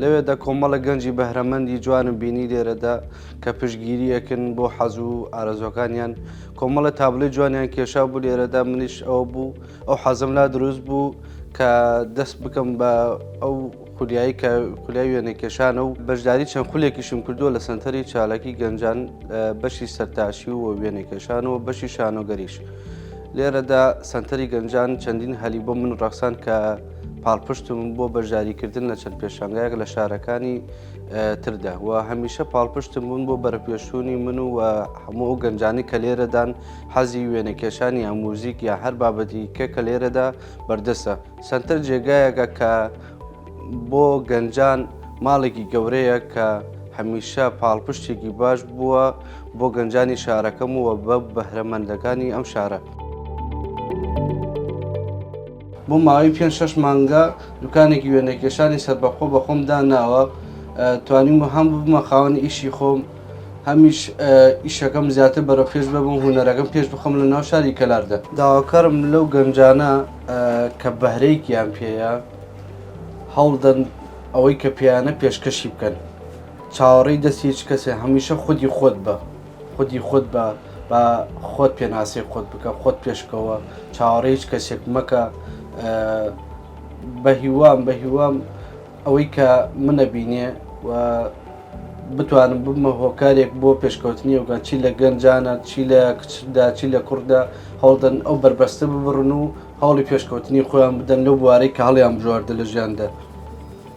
لەوێدا کۆمەڵێک گەنجی بەهرەمەندی جوانم بینی لێرەدا کە پشگیری ئەکن بۆ حەزوو و ئارەزۆکانیان کۆمەڵە تابلەی جوانیان کێشا بوو لێرەدا منیش ئەو بوو ئەو حەزم لا دروست بوو کە دەست بکەم بە ئەو خولیایی کە خولای وێنە کێشانە و بەشداری چەند خولێکیشم کردووە لە سنتەری چالاکی گەنجان بەشی سەرتاشی و وێنە کێشان و بەشی شانۆگەریش لێرەدا سنتەری گەنجان چەندین هەلی بۆ من ڕەخسان کە پاڵپشتم بۆ بەشداریکردن لە چەند پێشانگایەک لە شارەکانی تردا و هەمیشە پاڵپشتم بوون بۆ بەرەپێشوونی من و هەموو ئەو گەنجانی کە لێرەدان حەزی وێنەکێشانی یا موزیک یا هەر بابەتی کە کە لێرەدا بەردەسە سنتەر جێگایەکە کە بۆ گەنجان ماڵێکی گەورەیە کە هەمیشە پاڵپشتێکی باش بووە بۆ گەنجانی شارەکەم و بە بەهرەمەندەکانی ئەم شارە. بۆ ماوەی پێنج شەش مانگە دوکانێکی وێنەکێشانی سەربەخۆ بە خۆم داناوە توانیم و هەم ببمە خاوەنی ئیشی خۆم هەمیش ئیشەکەم زیاتر بەرەو پێش ببم هوەرەکەم پێش بخەم لە ناو شاری کەلاردە داواکارم لەو گەنجانە کە بەهرەیەکیان پێەیە هەوڵدەن ئەوەی کە پێیانە پێشکەشی بکەن چاوەڕێی دەستی هیچ کەسێ هەمیشە خودی خۆت بە. خودی خۆت بە، با خۆت پێناسەی خۆت بکە، خۆت پێش بکەوە، چاوەڕێی هیچ کەسێک مەکە. بەهیوام بەهیوام ئەوەی کە منە بینێ و بتوانم ببمە هۆکارێک بۆ پێشکەوتنی ئەوگان چی لە گەنجانە چی لە کچدا چی لە کوڕدا هەوڵدەن ئەو بەربەستە ببڕن و هەوڵی پێشکەوتنی خۆیان بدەن لەو بوارەی کە هەڵیان بژاردە لە ژیاندا.